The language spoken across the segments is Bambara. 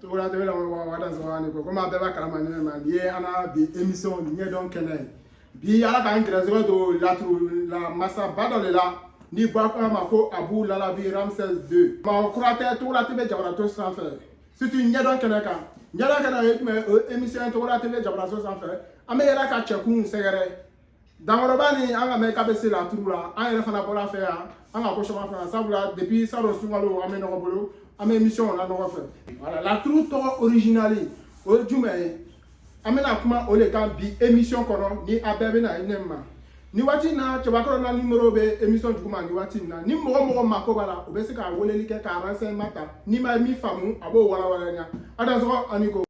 Togola TV la wa da zama ni ko komi a bɛɛ b'a kalama ne ma nin ye an ka bi émission ɲɛdɔn kɛnɛ ye bi ala k'an gɛrɛsɛgɛ don laturu la masaba dɔ de la ni ba ko a ma ko Abu Lalabi ramsès 2 mɔgɔ kura tɛ Togola TV jabarato sanfɛ surtout ɲɛdɔn kɛnɛ kan ɲɛdɔn kɛnɛ o ye jumɛn ye o ye émission ye Togola TV jabarato sanfɛ an bɛ yaala ka cɛkunw sɛgɛrɛ dankɔrɔba ni an ka mɛ k'a bɛ se laturu la an yɛrɛ fana bɔra a fɛ yan an ka ko caman fana sabula depuis salon sunkalo an bɛ ɲɔgɔn bolo an bɛ émission la ɲɔgɔn fɛ voilà laturu tɔgɔ originali o ye jumɛn ye an bɛna kuma o de kan bi émission kɔnɔ ni a bɛɛ bɛna ne ma ni waati in na cɛbakɔrɔ na numéro bɛ émission duguma ni waati in na ni mɔgɔ mɔgɔ mako b'a la o bɛ se ka weleli kɛ ka renseignement ta n'i ma min faamu a b'o walawala ɲa a dansɔgɔ ani ko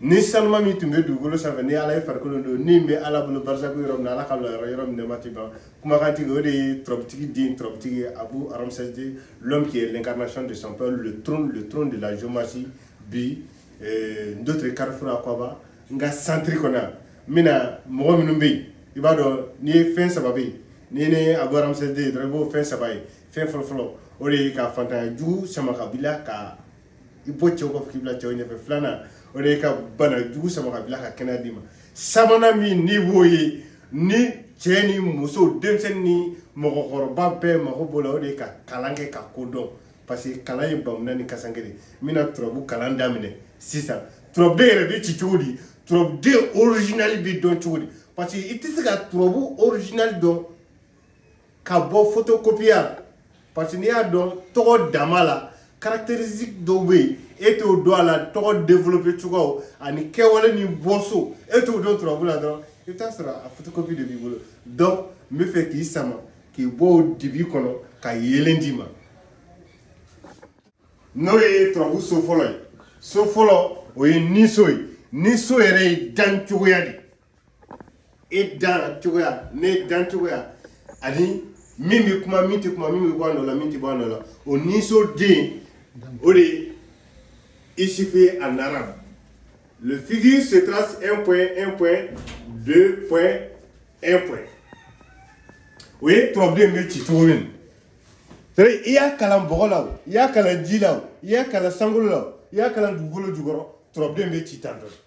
ni saniman min tun bɛ dugukolo sanfɛ ni ala ye farikolo don ni bɛ ala bolo barisaku yɔrɔ min na ala k'a bila yɔrɔ yɔrɔ min nɛɛma tɛ ban kumakantigi o de ye turabutigi den turabutigi ye Abu Ramsès 2 l'homme qui est l'incarnation de son père le trône le trône de la géomancie bi eh, d'autres carrefour akwaba n ka centre kɔnɔ yan n bɛna mɔgɔ minnu bɛ yen i b'a dɔn n'i ye fɛn saba bɛ yen n'i ni Abu Ramsès 2 dɔrɔn i b'o fɛn saba ye fɛn fɔlɔfɔlɔ o de ye ka fantanya jugu sama ka bila ka i bɔ cɛw kɔ k'i bila cɛw ɲɛfɛ filanan o de ye ka bana jugu sama ka bila ka kɛnɛya d'i ma sabanan min n'i b'o ye ni cɛ ni muso denmisɛnnin ni mɔgɔkɔrɔba bɛɛ mago b'o la o de ye ka kalan kɛ ka ko dɔn parce que kalan ye bamunan ni kasankɛ de n bɛna turabu kalan daminɛ sisan turabuden yɛrɛ bɛ ci cogo di turabuden original bɛ dɔn cogo di parce que i tɛ se ka turabu original dɔn ka bɔ photocopie la parce que n'i y'a dɔn tɔgɔ dama la caractéristique dɔw bɛ yen e t'o dɔn a la tɔgɔ développer cogoyaw ani kɛwale ni bɔso e t'o dɔn turabu la dɔrɔn i bɛ taa sɔrɔ a photocopie de b'i bolo donc n bɛ fɛ k'i sama k'i bɔ o dibi kɔnɔ ka yeelen d'i ma n'o ye turabu so fɔlɔ ye so fɔlɔ o ye niso ye niso yɛrɛ ye dancogoya de ye e dan cogoya ne dan cogoya ani min bɛ kuma min tɛ kuma min bɛ bɔ a nɔ la min tɛ bɔ a nɔ la o niso den o de ye isufu ye en arabe le figure se trace un point un point deux point un point o ye turabuden bɛ ci cogo min c'est-à-dire i y'a kalan bɔgɔ la o i y'a kalan ji la o i y'a kalan sankolo la o i y'a kalan dugukolo jukɔrɔ turabuden bɛ ci tan dɔrɔn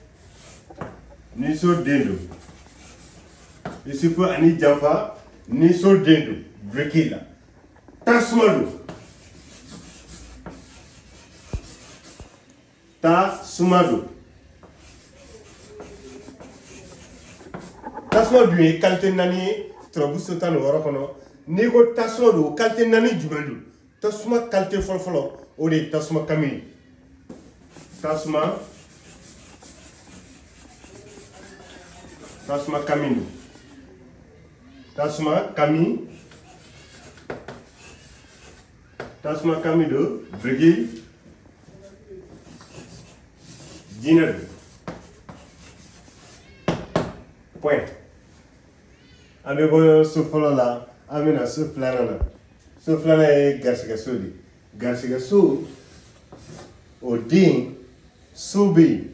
niso den don isufu ani janfa niso den don biriki la tasuma don tasuma don tasuma dun ye kalite naani ye turabu so tan ni wɔɔrɔ kɔnɔ n'i ko tasuma don kalite naani jumɛn don tasuma qualité fɔlɔfɔlɔ o de ye tasuma kami ye tasuma tasuma kami don tasuma kami tasuma kami don biriki jinɛ don point an bɛ bɔ so fɔlɔ la an bɛ na so filanan na so filanan ye garisigɛso de ye garisigɛso o den so bɛ yen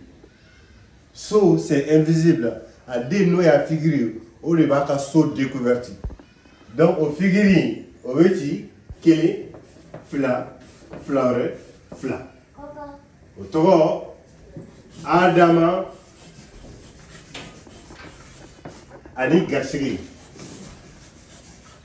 so c'est invisible a den n'o y'a figure ye o de b'a ka so découverte donc o figure in o bɛ ci kelen fila fila wɛrɛ fila o tɔgɔ adama ani garisigɛ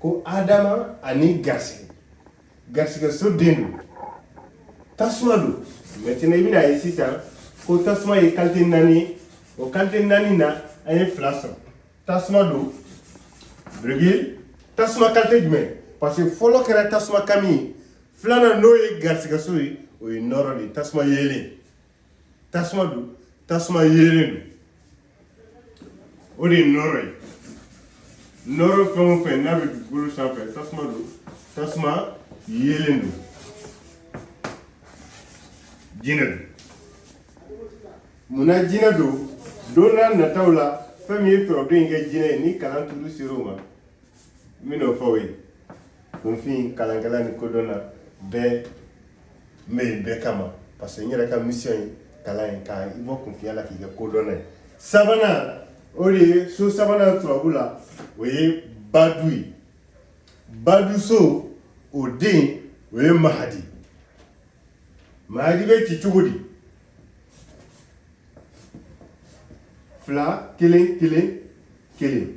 ko adama ani garisɛgɛ garisɛgɛ so den don tasuma don maintenant i bɛna a ye sisan ko tasuma ye qualité naani ye o qualité naani na an ye fila sɔrɔ tasuma don biriki tasuma qualité jumɛn parce que fɔlɔ kɛra tasuma kami ye filanan n'o ye garisɛgɛ so ye o ye nɔɔrɔ de ye tasuma yeelen tasuma don tasuma yeelen don o de ye nɔɔrɔ ye nɔɔrɔ fɛn o fɛn n'a bɛ dugukolo sanfɛ tasuma don tasuma yeelen don jinɛ don munna jinɛ don don n'a nataw la fɛn min ye tɔrɔdon in kɛ jinɛ ye ni kalan tour sera o ma N bɛn'o fɔ o ye kunfin kalankɛla ni kodɔnna bɛɛ n bɛ yen bɛɛ kama parce que n yɛrɛ ka mission ye kalan ye ka i bɔ kunfinya la k'i kɛ kodɔnna ye sabanan o de ye so sabanan turabu la o ye badu ye badu so o den o ye mahadi mahadi bɛ ci cogo di fila kelen kelen kelen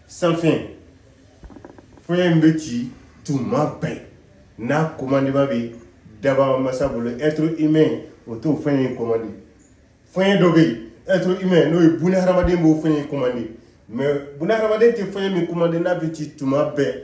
sanfin fiɲɛ min bɛ ci tuma bɛɛ n'a commandement bɛ dabaa masa bolo être humain o t'o fiɲɛ in komandi fiɲɛ dɔ bɛ yen être humain n'o ye buna hadamaden b'o fiɲɛ in komandi mais buna hadamaden tɛ fiɲɛ min komandi n'a bɛ ci tuma bɛɛ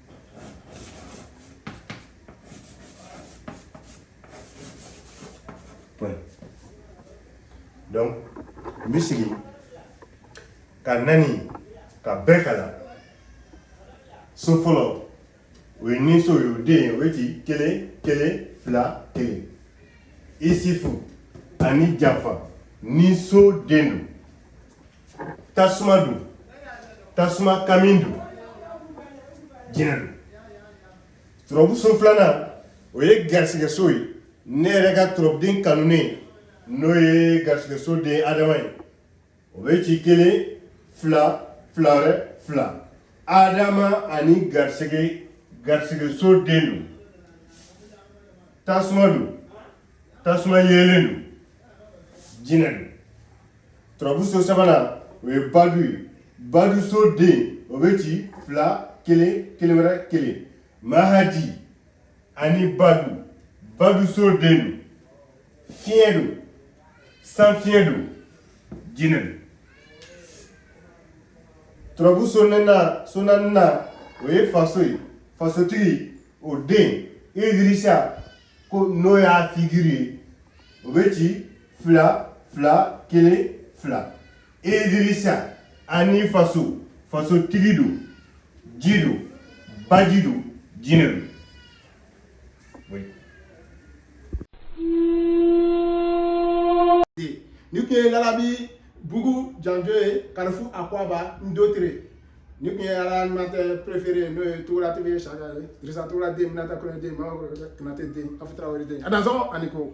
donc n bɛ segin a kan ani k'a bɛɛ kalan so fɔlɔ o ye ni so ye o den ye o ye ci kelen kelen fila kelen isifu ani janfa ni so den don tasuma don tasuma kami don jinɛ don turabuso filanan o ye garisigɛso ye ne yɛrɛ ka turabuden kanunen n'o ye garisigɛso den adama ye o bɛ ci kelen fila fila wɛrɛ fila adama ani garisɛgɛ garisigɛso den don tasuma don tasuma yeelen don jinɛ don turabuso sabanan o ye badu ye baduso den o bɛ ci fila kelen kelen wɛrɛ kelen mahadi ani badu baduso den don fiɲɛ don sanfiɲɛ don jinɛ don turabuso na so naaninan o ye faso ye fasotigi o den idirisa ko n'o y'a figiri ye o bɛ ci fila fila kelen fila idirisa ani faso fasotigi don ji don baji don jinɛ don nin kun ye lalabi bugu janjo ye kalifu akwaba ndotre nin kun ye a la animateur préféré n'o ye togola tv chaka ye dirisa togola den minata kɔnɛ den mama konate den afu tarawere den a dansɔgɔ a ni ko